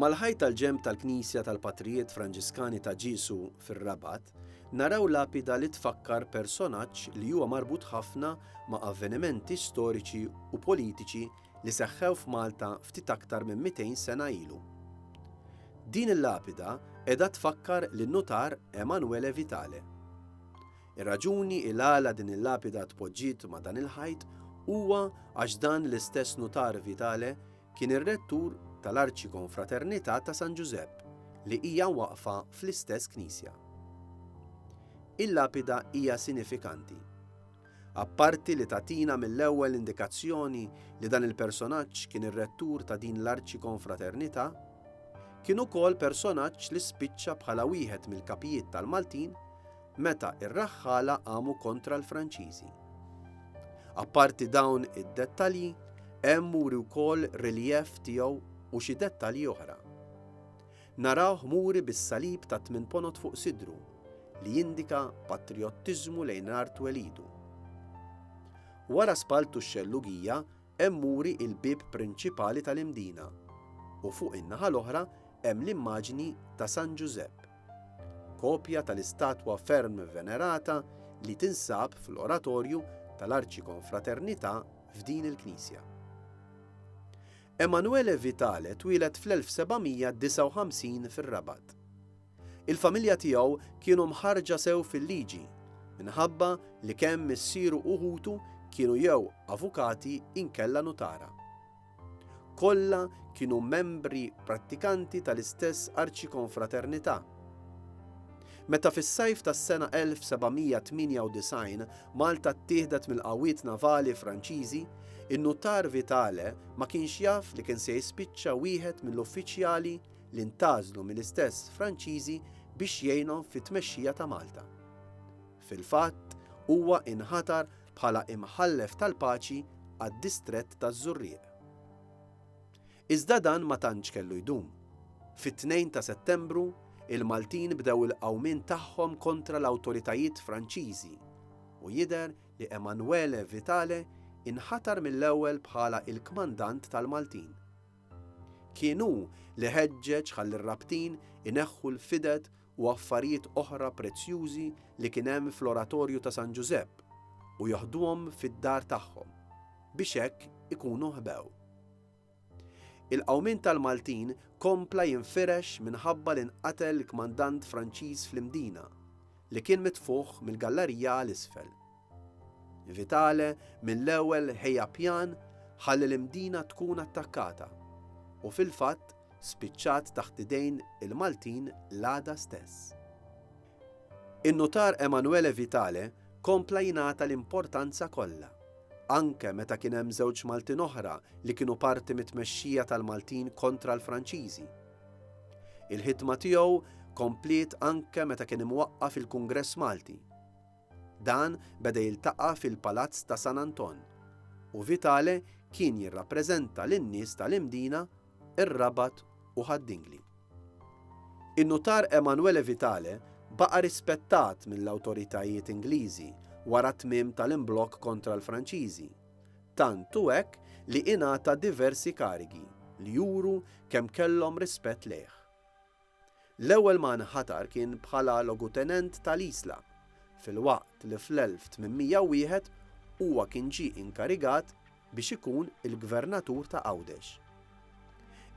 Mal-ħajt tal-ġenb tal-Knisja tal-Patrijiet Franġiskani ta' Ġiesu fir-Rabat, naraw lapida li tfakkar personaġġ li huwa marbut ħafna ma' avvenimenti storiċi u politiċi li seħħew f'Malta ftit aktar minn 200 sena ilu. Din il-lapida qiegħda tfakkar lin-Nutar Emanuele Vitale. Ir-raġuni il-għala din il-lapida tpoġġiet ma' dan il-ħajt huwa għax dan l-istess Nutar Vitale Kien ir-rettur tal-Arċikonfraternità ta' San Ġużepp li hija waqfa fl-istess knisja. Il-lapida hija sinifikanti. Apparti li tagħtina mill-ewwel indikazzjoni li dan il-personaġġ kien ir-rettur ta' din l-Arċikonfraternità, kien ukoll personaġġ li spiċċa bħala wieħed mill-kapijiet tal-Maltin meta r-raħħala qamu kontra l-Franċiżi. Apparti dawn id-dettalji, hemm muri wkoll riljev tiegħu u xi dettalji oħra. Narawh muri bis-salib ta' tmien ponot fuq sidru li jindika patriottiżmu lejn art welidu. Wara spaltu x-xellugija hemm muri il-bib prinċipali tal-imdina u fuq in-naħa l-oħra hemm l-immaġni ta' San Ġużepp. Kopja tal-istatwa ferm venerata li tinsab fl-oratorju tal-Arċikonfraternità f'din il-knisja. Emanuele Vitale twieled fl-1759 fir-Rabat. Il-familja tiegħu kienu mħarrġa sew fil-liġi minħabba li kemm missieru u ħutu kienu jew avukati inkella nutara. Kollha kienu membri prattikanti tal-istess arċikonfraternità. Meta fis-sajf tas-sena 1798 Malta ttieħdet mill-qawwiet navali Franċiżi, in-Nutar Vitale ma kienx jaf li kien se jispiċċa wieħed mill-uffiċjali li ntgħażlu mill-istess Franċiżi biex jgħinhom fit-tmexxija ta' Malta. Fil-fatt, huwa inħatar bħala imħallef tal-paċi għad-distrett taż-Żurrieq. Iżda dan ma tantx kellu jdum. Fit-Tnejn ta' Settembru, il-Maltin bdew il-qawmien tagħhom kontra l-awtoritajiet Franċiżi u jidher li Emanuele Vitale inħatar mill-ewwel bħala il-kmandant tal-Maltin. Kien hu li ħeġġeġ ħalli r-rabtin ineħħu l-fided u affarijiet oħra prezzjużi li kien hemm fl-Oratorju ta' San Ġużepp u joħduhom fid-dar tagħhom biex hekk ikunu ħbew. Il-qawmien tal-Maltin kompla jinfirex minħabba li nqatel il-kmandant Franċiż fl-Imdina, li kien mitfugħ mill-gallarija għal isfel. Vitale mill-ewwel ħejja pjan ħalli l-Imdina tkun attakkata u fil-fatt spiċċat taħt idejn il-Maltin l-għada stess. In-Nutar Emanuele Vitale kompla jingħata l-importanza kollha, anke meta kien hemm żewġ Maltin oħra li kienu parti mit-tmexxija tal-Maltin kontra l-Franċiżi. Il-ħidma tiegħu kompliet anke meta kien imwaqqaf il-Kungress Malti. Dan beda jiltaqa' fil-Palazz ta' San Anton u Vitale kien jirrappreżenta lin-nies tal-Imdina, ir-Rabat u Ħad Dingli. In-Nutar Emanuele Vitale baqa' rispettat mill-awtoritajiet Ingliżi wara t-tmiem tal-imblokk kontra l-Franċiżi, tant hu hekk li ingħata diversi karigi li juru kemm kellhom rispett lejh. L-ewwel ma nħatar kien bħala logutenent tal-Isla, filwaqt li fl-1801 huwa kien ġie inkarigat biex ikun il-gvernatur ta' Għawdex.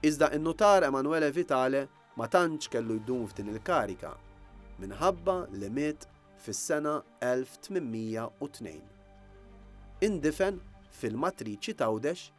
Iżda n-Nutar Emanuele Vitale ma tantx kellu jdum f'din il-kariga, minħabba li miet fis-sena 1802. Indifen fil-matriċi t'Għawdex